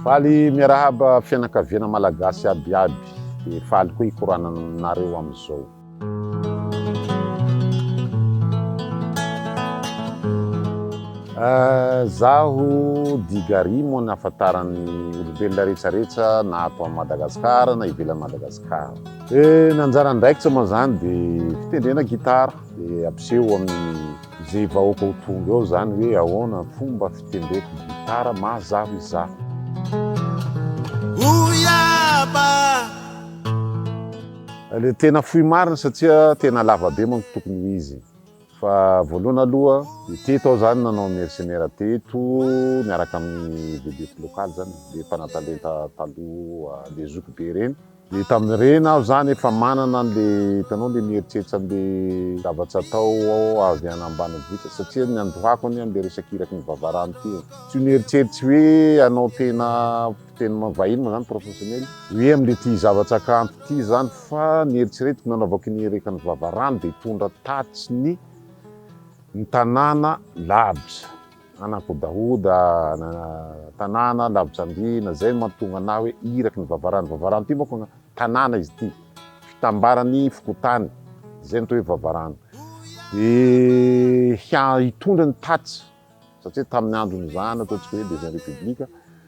Faly miarahaba fianakaviana malagasy abiaby dia faly koa hikorana aminareo amin'izao. Ah, zaho Digari moa ny afantaran'ny olombelona rehetrarehetra na ato amin'i Madagasikara na ivelan'i Madagasikara. Eh, ny anjara andraikitra moa zany dia fitendrena gitara dia ampiseho amin'ny Izay vahoaka ho tonga eo izany hoe ahoana ny fomba fitendreko ny gitara mazava izaho. Le tena fohy marina satria tena lava be manko tokony ho izy. Fa voalohany aloha, teto aho zany nanao mercenaire teto miaraka amin'ny vedette locale zany, le mpanatalenta taloha, le zokibe reny. Dia tamin'ireny aho izany efa manana an'ilay hitanao ilay mieritreritra an'ilay zavatra atao aho avy any ambanivohitra satria ny andohako anie an'ilay resaka iraky ny vavarano ity e. Tsy ho nieritreritra hoe hanao tena mpiteny vahiny moa izany professionnel hoe amin'ity zavatra kanto ity izany fa ny eritreretiko nanaovako ny iraky ny vavarano dia hitondra tatitry ny ny tanàna lavitra. Nanakodahoda tanàna lavitra andriana, zay no mahatonga anah hoe iraky ny vavarano, vavarano ty manko tanàna izy ty, fitambaran'ny fokontany, zay no atao hoe vavarano, dia hitondra ny tatitra, satria tamin'ny andron'ny zana ataontsika hoe deuxième république,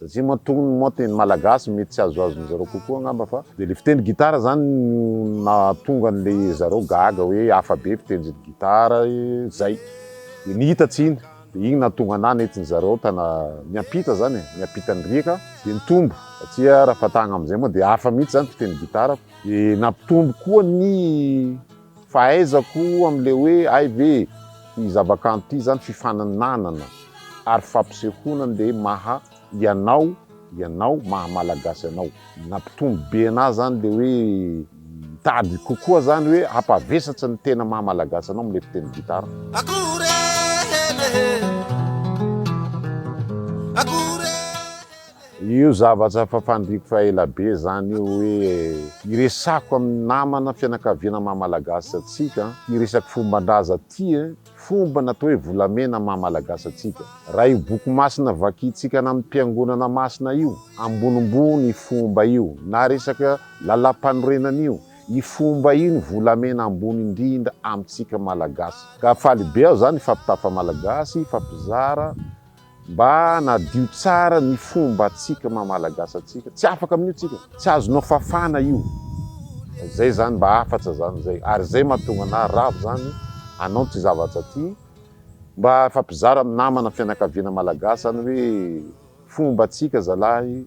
Satria matoa ny moa teny malagasy mety tsy azoazon'ny zareo kokoa angamba fa dia ilay fiteny gitara zany no nahatonga an'ilay zareo gaga hoe hafa be fitenjin'ny gitara zay dia ny hita tsy iny dia iny nahatonga anahy nentin'ny zareo tana niampita zany e niampita ny riaka dia nitombo satria raha fatahana amin'izay moa dia hafa mihitsy zany fiteny gitara dia nampitombo koa ny Fahaizako amin'ilay hoe hay ve ity zavakanto ity izany fifaninanana ary fampisehoana andeha maha ianao ianao, maha Malagasy anao. Nampitombo be anà izany ilay hoe mitady kokoa izany hoe hampavesatsy ny tena maha Malagasy anao amin'ilay mpitendry gitara. Akory e! Akory e! Io zavatra efa fandriko fa ela be zany io hoe. Iresako amin'ny namana fianakaviana maha malagasy antsika ity resaka fomban-draza ity e! Fomba ny atao hoe volamena maha malagasy antsika. Raha io boky masina vakintsika any amin'ny mpiangonana masina io, ambonimbony io fomba io, na resaka lalampanorenana io, io fomba io ny volamena ambony indrindra amintsika malagasy. Ka faly be aho zany hifampitafa malagasy, hifampizara. Mba hanadio tsara ny fombantsika maha Malagasy antsika, tsy afaka amin'io tsika, tsy azonao fafana io, zay zany mba hafatsa zany zay, ary zay mahatonga anah ravo zany anao ty zavatsa ty, mba ifampizara amin'ny namana fianakaviana Malagasy zany hoe fombantsika zalahy,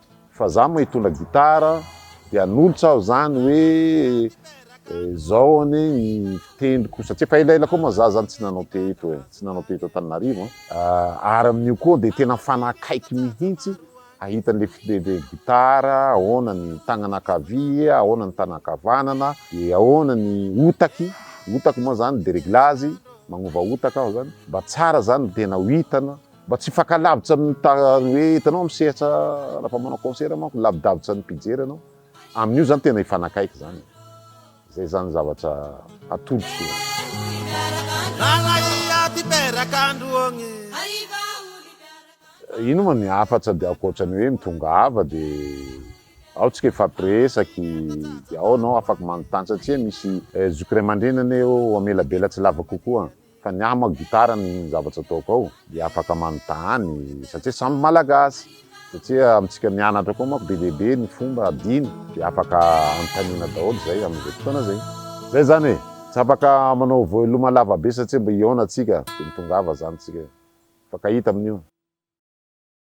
Fa za moa hitondra gitara de hanolotra aho zany hoe zao anie ny fitendriko satria fa elaela koa moa za zany tsy nanao teto e, tsy nanao teto Antananarivo an. Ary amin'io koa dia tena mifanakaiky mihitsy hahita an'ilay fitendrena gitara, ahoana ny tagnana ankavia, ahoana ny tagnana ankavanana, dia ahoana ny otaky, otaky moa zany de reglazy, magnova otaka aho zany, mba tsara zany ny tena ho hitana Mba tsy hifakalavitra amin'ny ta hoe hitanao amin'ny sehatra rafa manao concert manko lavidavitra ny mpijery ianao amin'io zany tena hifanakaiky zany e. Zay zany zavatra atolotr'io. Ino moa ny hafatra dia ankoatra ny hoe mitongava dia ao tsika hifampiresaky dia ao ianao afaka manontany satria misy zoky ray aman-dreny anie eo hamelabela tsy lava kokoa. Fa ny ahy manko gitara ny zavatra ataoko ao dia afaka manontany satria samy malagasy satria amintsika mianatra koa manko be dia be ny fomba adino dia afaka anontaniana daholo izay amin'izay fotoana izay. Izay izany e! Tsy afaka manao voeloma lava be satria mba hihaona tsika dia mitongava izany tsika mifankahita amin'io.